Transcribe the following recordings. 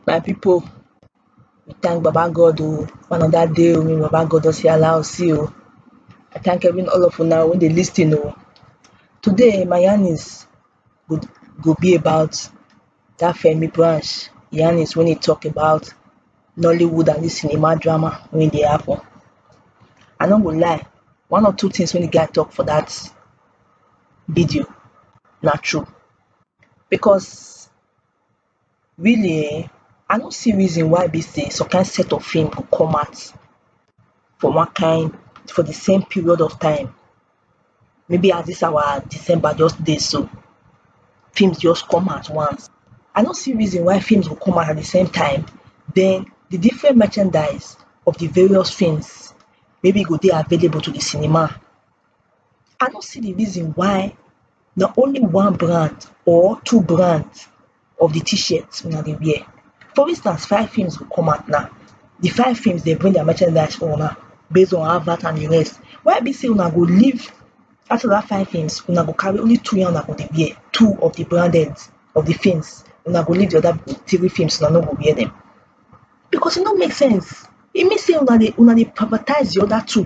My pipu we thank baba God oh for another day wey baba God don see allow us see oh, I thank every all of una wey dey lis ten oh. Today my yarn is go go be about dat Femi Branch yarn is wey e talk about Nollywood and dis cinema drama wey dey happen. I no go lie one or two things wey de guy talk for dat video na true because really um i no see reason why be say some kind set of film go come out for one kind for the same period of time maybe as this our december just dey so films just come at once i no see reason why films go come out at the same time then the different merchandise of the various films maybe e go dey available to the cinema i no see the reason why na only one brand or two brands of the t-shirt una dey wear for instance five films go come out now the five films dey bring their merchandise for una based on advert and the rest why e be say una go leave after that five films una go carry only two na una go dey wear two of the branded of the films una go leave the other three films una no go wear them because e no make sense e mean say una dey una dey privatise the other two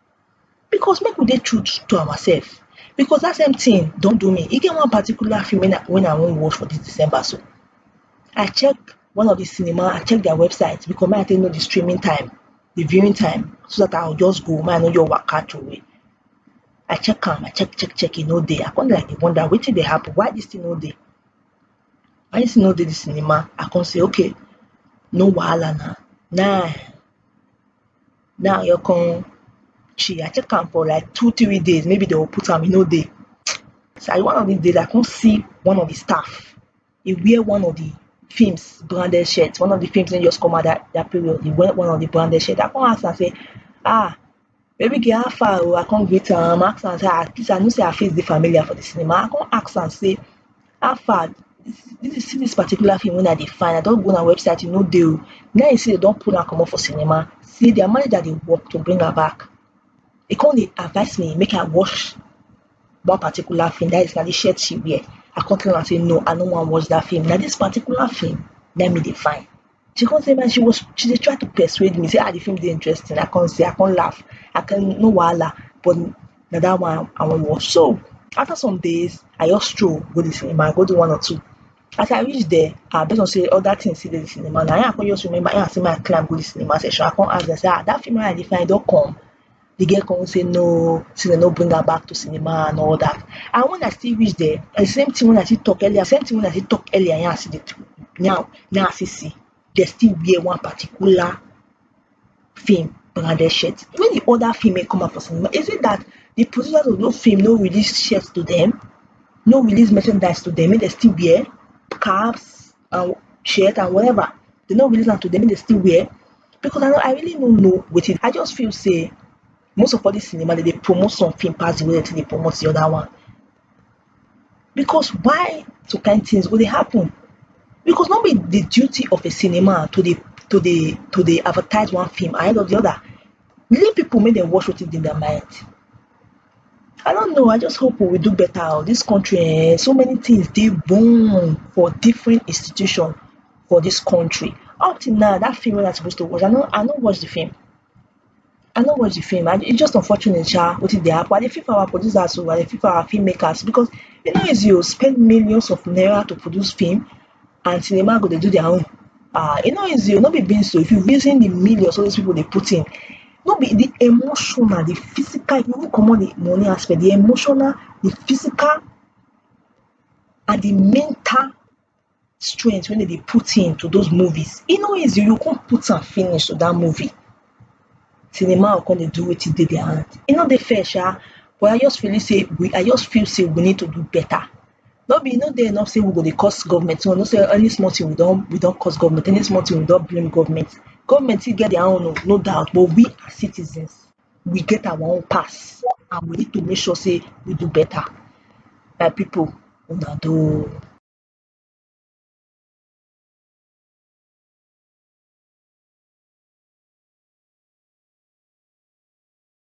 because make we dey true to ourselves because that same thing don do me. E get one particular film when I when I wan watch for this December so, I check one of the cinema, I check their website because make I take know the streaming time, the viewing time so that I will just go, make I no just waka throway. I check am, I check, check, check, e no dey. I come dey like dey wonder wetin dey happen, why this thing no dey? Why this thing no dey the cinema? I come say okay, no wahala na, na now your con chi i check am for like two three days maybe they will put am e no dey so i one of these days i come see one of the staff he wear one of the films branded shirt one of the films wey just come out that that period he wear one of the branded shirt i come ask am say ah baby girl how far oh i come greet am ask am say ah please i know say her face dey familiar for the cinema i come ask am say How far see dis particular film wey I dey find I don go una website e no dey oh na im I see dem don pull am comot for cinema say their manager dey work to bring am back e come dey advice me make I watch one particular film dat is na de shirt she wear I come tell am say no I no wan watch dat film na dis particular film na im me dey find she come say man she was she dey try to persuade me say ah the film dey interesting i come say i come laugh i come no wahala but na that one i wan watch so after some days i just stroll go the cinema i go do one or two as i reach there ah based on say other things still dey the cinema na i come just remember i say make i climb go the cinema section i come ask dem say ah that film wey i dey find e don come the girl come say no say dem no bring her back to cinema and all that and when I still reach there the same thing when I still talk earlier same thing when I still talk earlier now I see the truth now now I still see they still wear one particular film branded shirt when the other film may come out for cinema is it that the producers of those film no release shirts to them no release merchandise to them make they still wear caps and shirt and whatever they no release am to them they still wear because i no i really no know wetin i just feel say most of all this cinema they dey promote something pass the way they dey promote the other one because why some kind things go dey happen because no be the duty of a cinema to dey to dey to dey advertise one film ahead of the other leave people make dem watch wetin dey their mind I don't know I just hope we will do better oh this country eh so many things dey boom for different institution for this country up till now that film wey I suppose to watch I no I no watch the film I no watch the film and e just unfortunate sha wetin dey happen I dey feel for our producers oh I dey feel for our film makers because e no easy oh spend millions of naira to produce film and cinema go dey do their own ah e no easy o no be beans o if you reason the millions all those people dey put in no be the emotional the physical if you even comot the money aspect the emotional the physical and the mental strength wey dem dey put in to those movies e no easy you go come put am finish to that movie cinema go come dey do wetin dey their hand e no dey fair sha but I just believe sey we I just feel sey we need to do better no be e no dey enough sey we go dey curse government so we know sey any small thing we don we don curse government any small thing we don blame government government too get their own oh no doubt but we as citizens we get our own pass and we need to make sure sey we do better my people una doh